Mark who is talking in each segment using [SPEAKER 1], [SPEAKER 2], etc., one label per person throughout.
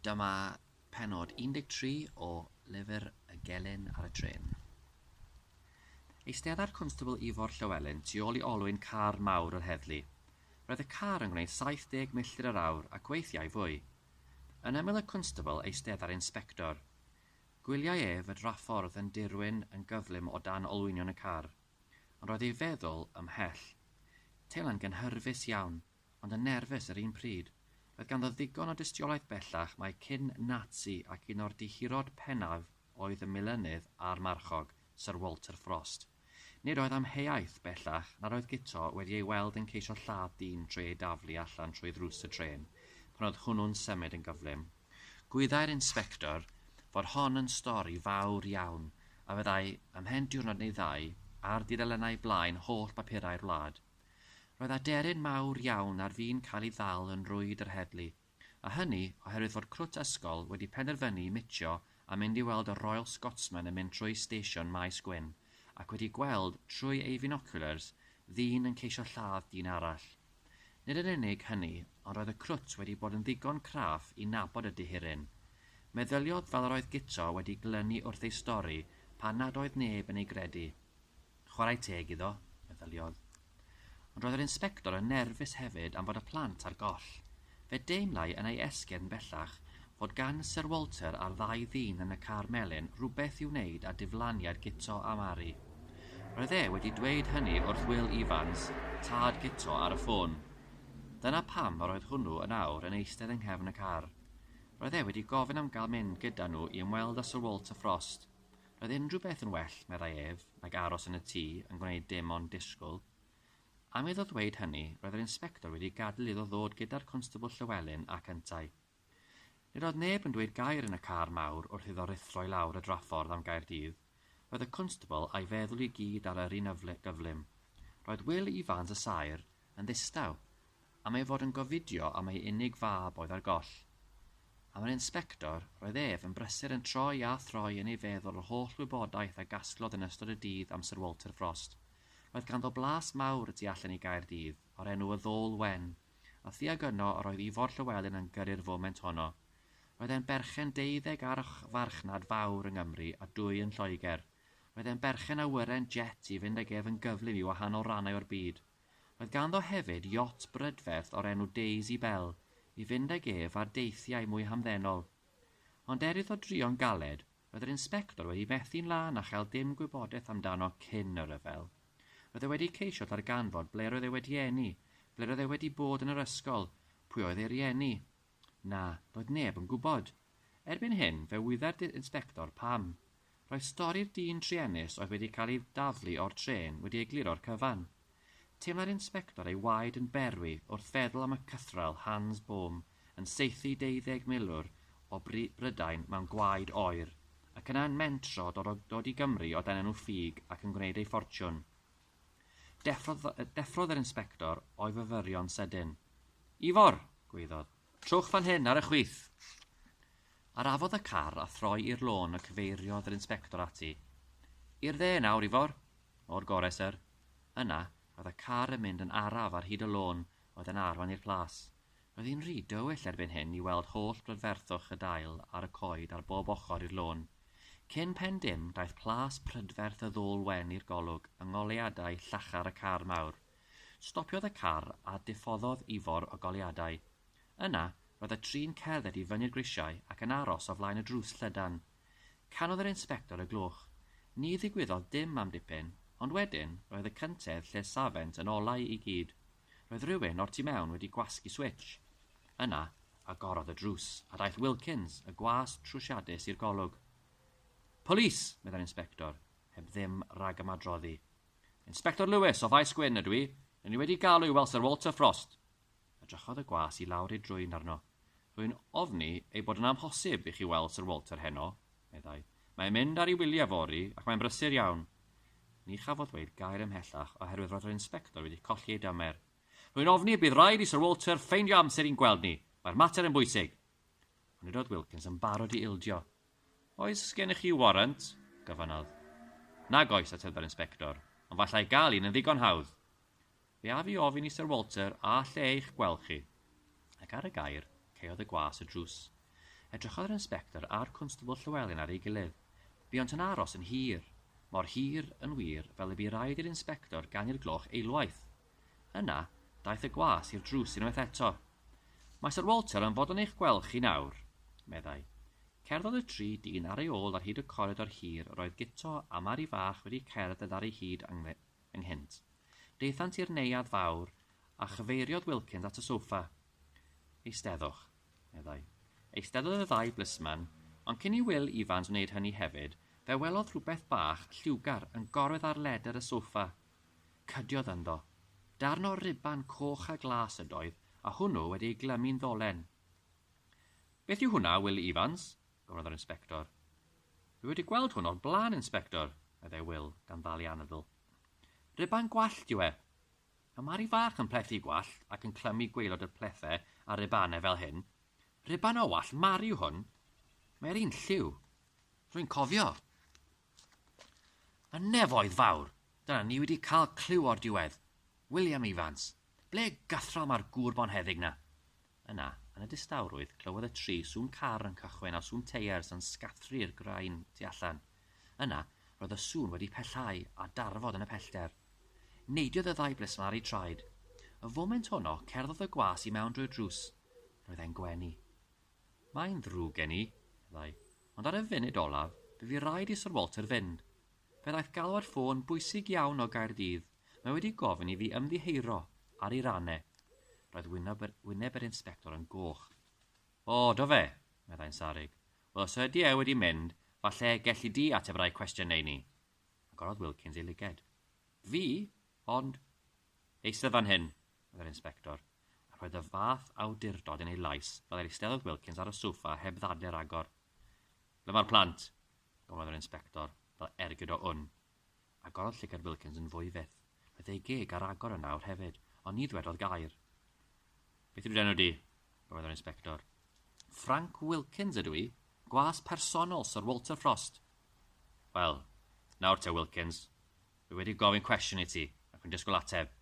[SPEAKER 1] Dyma pennod 13 o lyfr Y Gelyn ar y Trên. Eistedda'r Constable Ifor Llywelyn tu ôl i olwyn car mawr yr heddlu. Roedd y car yn gwneud 70 milltir yr awr ac weithiau fwy. Yn ymyl y Constable eistedda'r Inspector. Gwyliai ef y draffordd yn dirwyn yn gyflym o dan olwynion y car, ond roedd ei feddwl ymhell. Teimlai'n gynhyrfus iawn. ond yn nerfus yr un pryd. Roedd ganddo ddigon o dystiolaeth bellach mai cyn Nazi ac un o'r dihirod pennaf oedd y milynydd a'r marchog, Sir Walter Frost. Nid oedd amheuaeth, bellach, nad oedd Guto wedi ei weld yn ceisio lladd dyn trwy ei daflu allan trwy ddrws y trên, pan oedd hwnnw'n symud yn gyflym. Gwyddai'r inspector fod hon yn stori fawr iawn, a fyddai, ymhen diwrnod neu ddau, ar dudalennau blaen holl bapurau'r wlad. Roedd aderyn mawr iawn ar fin cael ei ddal yn rwyd yr heddlu, a hynny oherwydd fod crwt ysgol wedi penderfynu mitio a mynd i weld y Royal Scotsman yn mynd trwy stesion Maes Gwyn ac wedi gweld, trwy ei finoculars, ddyn yn ceisio lladd dyn arall. Nid yn unig hynny, ond roedd y crwt wedi bod yn ddigon craff i nabod y dihiryn. Meddyliodd fel yr oedd Guto wedi glynu wrth ei stori pan nad oedd neb yn ei gredu. Chwarae teg iddo, meddyliodd. Ond roedd yr inspector yn nerfus hefyd am fod y plant ar goll. Fe deimlai yn ei esgyrn bellach fod gan Syr Walter a'r ddau ddyn yn y car melyn rywbeth i'w wneud â diflaniad Guto a Mari. Roedd e wedi dweud hynny wrth Wil Ifans, tad Guto, ar y ffôn. Dyna pam yr oedd hwnnw yn awr yn eistedd yng nghefn y car. Roedd e wedi gofyn am gael mynd gyda nhw i ymweld â Syr Walter Frost. Roedd unrhyw beth yn well, meddai ef, nag aros yn y tŷ yn gwneud dim ond disgwyl. Am iddo ddweud hynny, roedd yr inspector wedi gadael iddo ddod gyda'r Constable Llewelyn ac yntau. Nid oedd neb yn dweud gair yn y car mawr wrth iddo ruthro i lawr y draffordd am Gaerdydd. Roedd y Constable a'i feddwl i gyd ar yr un gyflym. Roedd Wil Ifans y Saer yn ddistaw, Am ei fod yn gofidio am ei unig fab oedd ar goll. Am yr Inspector, roedd ef yn brysur yn troi a throi yn ei feddwl yr holl wybodaeth a gasglodd yn ystod y dydd am Syr Walter Frost. Roedd ganddo blas mawr y tu allan i Gaerdydd, o'r enw y Ddôl Wen, a thuag yno yr oedd Ifor Llywelyn yn gyrru'r foment honno. Roedd e'n berchen deuddeg ar farchnad fawr yng Nghymru a dwy yn Lloegr. Roedd e'n berchen awyren jet i fynd ag ef yn gyflym i wahanol rannau o'r byd. Roedd ganddo hefyd iot brydferth o'r enw Daisy Belle i fynd ag ef ar deithiau mwy hamddenol. Ond er iddo drio'n galed, roedd yr inspector wedi methu'n lân a chael dim gwybodaeth amdano cyn y rhyfel. Roedd e wedi ceisio darganfod ble roedd e wedi eni, ble roedd e wedi bod yn yr ysgol, pwy oedd ei rieni. Na, doedd neb yn gwybod. Erbyn hyn, fe wyddai'r inspector pam. Roedd stori'r dyn druenus oedd wedi cael ei daflu o'r trên wedi egluro'r cyfan. Teimlai'r inspector ei waed yn berwi wrth feddwl am y cythraul Hans Bohm yn saethu deuddeg milwr o Brydain mewn gwaed oer, ac yna yn mentro dod i Gymru o dan enw ffug ac yn gwneud ei ffortiwn. Deffrodd yr inspector o'i fyfyrion sydyn. Ifor! gwaeddodd. Trowch fan hyn ar y chwith! Arafodd y car a throi i'r lôn y cyfeiriodd yr Inspector ati. I'r dde nawr, Ifor? O'r gore, syr. Yna, roedd y car yn mynd yn araf ar hyd y lôn oedd yn arwain i'r plas. Roedd hi'n rhy dywyll erbyn hyn i weld holl brydferthwch y dail ar y coed ar bob ochr i'r lôn. Cyn pen dim, daeth plas prydferth y ddôl wen i'r golwg yng ngoleuadau llachar y car mawr. Stopiodd y car a diffoddodd Ifor o goleuadau. Yna, roedd y tri'n cerdded i fyny'r grisiau ac yn aros o flaen y drws llydan. Canodd yr inspector y gloch. Ni ddigwyddodd dim am dipyn, ond wedyn, roedd y cyntedd lle safent yn olau i gyd. Roedd rhywun o'r tu mewn wedi gwasgu switsh. Yna, agorodd y drws, a daeth Wilkins, y gwas trwsiadus i'r golwg. Polis! meddai'r inspector, heb ddim rhagymadroddi. Inspector Lewis, o Faes Gwyn, ydw i. R'yn ni wedi galw i weld Sir Walter Frost. Edrychodd y gwas i lawr ei drwyn arno. Rwy'n ofni ei bod yn amhosib i chi weld Sir Walter heno, meddai. Mae'n mynd ar ei wyliau fory, ac mae'n brysur iawn. Ni chafodd ddweud gair ymhellach oherwydd roedd yr inspector wedi colli ei damer. Rwy'n ofni y bydd rhaid i Sir Walter ffeindio amser i'n gweld ni. Mae'r mater yn bwysig. Ond nid oedd Wilkins yn barod i ildio. Oes gennych chi warant? gofynnodd. Nag oes, ateb yr inspector, ond fallai gael un yn ddigon hawdd. Fe af i ofyn i Syr Walter a alle eich gweld chi. Ac ar y gair, caeodd y gwas y drws. Edrychodd yr inspector a'r Cwnstabl Llywelyn ar ei gilydd. Buont yn aros yn hir. Mor hir, yn wir, fel y bu raid i'r inspector ganu'r gloch eilwaith. Yna, daeth y gwas i'r drws unwaith eto. Mae Syr Walter am fod yn eich gweld chi nawr, meddai. Cerddodd y tri dyn ar ei ôl ar hyd y coridor hir yr oedd Guto a Mari Fach wedi cerdded ar ei hyd ynghynt. Daethant i'r neuadd fawr a chyfeiriodd Wilkins at y soffa. Eisteddwch, meddai. Eisteddodd y ddau blisman, ond cyn i Wil Ifans wneud hynny hefyd, fe welodd rhywbeth bach lliwgar yn gorwedd ar ledr y soffa, Cydiodd ynddo. Darn o ruban coch a glas ydoedd, a hwnnw wedi ei glymu'n ddolen. Beth yw hwnna, Wil Ifans? gofynnodd yr inspector. Dwi wedi gweld hwn o'r blaen, Inspector, meddai Wil, gan ddal ei anadl. Ruban gwallt yw e. Mae Mari fach yn plethu gwallt ac yn clymu gwaelod y plethau ar rubanau fel hyn. Ruban o wallt Mari yw hwn. Mae e'r un lliw. Rwy'n cofio. Y nefoedd fawr! Dyna, ni wedi cael clyw o'r diwedd. William Evans! Ble gythrom â'r gŵr bonheddig 'na? Yna, yn y distawrwydd, clywodd y tri sŵn car yn cychwyn a sŵn teiars yn sgathru'r graean tu allan. Yna, roedd y sŵn wedi pellhau a darfod yn y pellter. Neidiodd y ddau blismari traed. Y foment honno, cerddodd y gwas i mewn drwy'r drws. Roedd e'n gwenu. Mae'n ddrwg gen i, meddai. Ond ar y funud olaf, bu fi raid i Syr Walter fynd. Fe ddaeth galwad ffôn bwysig iawn o Gaerdydd, mae wedi gofyn i fi ymddiheuro ar ei ran e. Roedd wyneb yr, wyneb yr inspector yn goch. O, do fe? meddai'n sarug. Wel, os ydy e wedi mynd, falle gelli di ateb rai cwestiynau ni. Agorodd Wilkins ei lyged. Fi? Ond... Eistedd fan hyn, oedd yr inspector, a rhoed y fath awdurdod yn ei lais fel yr eisteddodd Wilkins ar y soffa heb ddadl i'r agor. Ble mae'r plant? gofynnodd yr inspector, fel ergyd o wn. Agorodd llygad Wilkins yn fwy fyth. Roedd ei geg ar agor yn awr hefyd, ond ni ddwedodd gair. Beth yw'r enw di? gofynnodd yr inspector. Frank Wilkins ydw i, gwas personol Sir Walter Frost. Wel, nawr te Wilkins, Dwi wedi gofyn cwestiwn i ti, ac yn disgwyl ateb.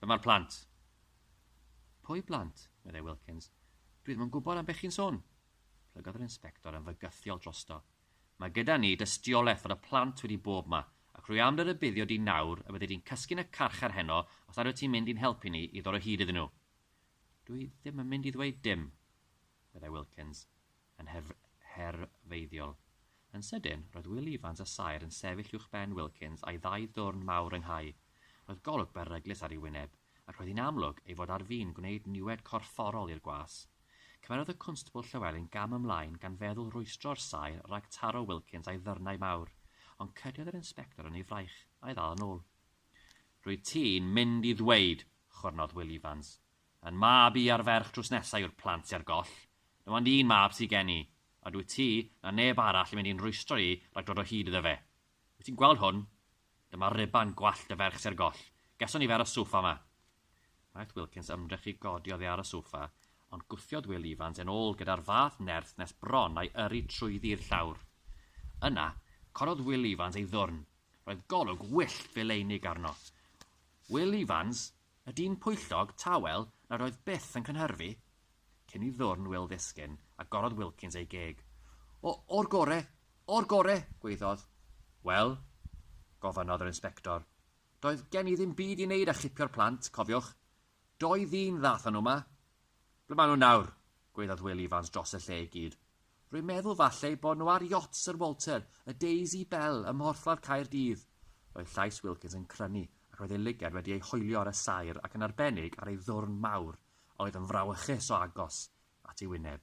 [SPEAKER 1] Ble mae'r plant? Pwy blant? meddai Wilkins. Dwi ddim yn gwybod am beth chi'n sôn. Plygodd yr inspector yn fygythiol drosto. Mae gyda ni dystiolaeth fod y plant wedi bob ma, ac rwy am dy rybuddio di nawr y byddi di'n cysgu'n y carchar heno os nad wyt ti'n mynd i'n helpu ni i ddod o hyd iddyn nhw. Dwi ddim yn mynd i ddweud dim, meddai Wilkins. yn herfeiddiol. Yn sydyn, roedd Wil Ifans a Saer yn sefyll uwch ben Wilkins a'i ddau ddwrn mawr ynghau. Roedd golwg beryglus ar ei wyneb, ac roedd hi'n amlwg ei fod ar fin gwneud niwed corfforol i'r gwas. Cymerodd y Cwnstabl Llywelyn gam ymlaen gan feddwl rwystro'r Saer rhag taro Wilkins a'i ddyrnau mawr, ond cydiodd yr Inspector yn ei fraich, a'i ddal yn ôl. Rwyt ti'n mynd i ddweud, chwyrnodd Wil Ifans, Yn mab i a'r ferch drws nesa yw'r plant sy ar goll. Dim ond un mab sy gen i, a dwyt ti, na neb arall yn mynd i'n rwystro i rag dod o hyd iddo fe. Wyt ti'n gweld hwn? Dyma ruban gwallt y ferch sy ar goll. Geson ni fe ar y soffa 'ma. Gwnaeth Wilkins ymdrech i godi oddi ar y soffa, ond gwthiodd Wil Ifans e'n ôl gyda'r fath nerth nes bron a'i yrru trwyddi'r llawr. Yna, corodd Wil Ifans ei ddwrn. Roedd golwg wyllt fileunig arno. Wil Ifans! Y dyn pwyllog, tawel, nad oedd byth yn cynhyrfu? Cyn i ddwrn Wil ddisgyn, agorodd Wilkins ei geg. O, o'r gore! O'r gore! gwaeddodd. Wel? gofynnodd yr inspector. Doedd gen i ddim byd i wneud â chipio'r plant, cofiwch. Dou ddyn ddath â nhw 'ma. Ble maen nhw nawr? gwaeddodd Wil Ifans dros y lle i gyd. Rwy'n meddwl falle eu bod nhw ar yacht Sir Walter, y Daisy Belle, ym Mhorthladd Caerdydd. Roedd llais Wilkins yn crynu, ac roedd ei lygad wedi ei hoelio ar y saer ac yn arbennig ar ei ddwrn mawr, a oedd yn frawychus o agos, at ei wyneb.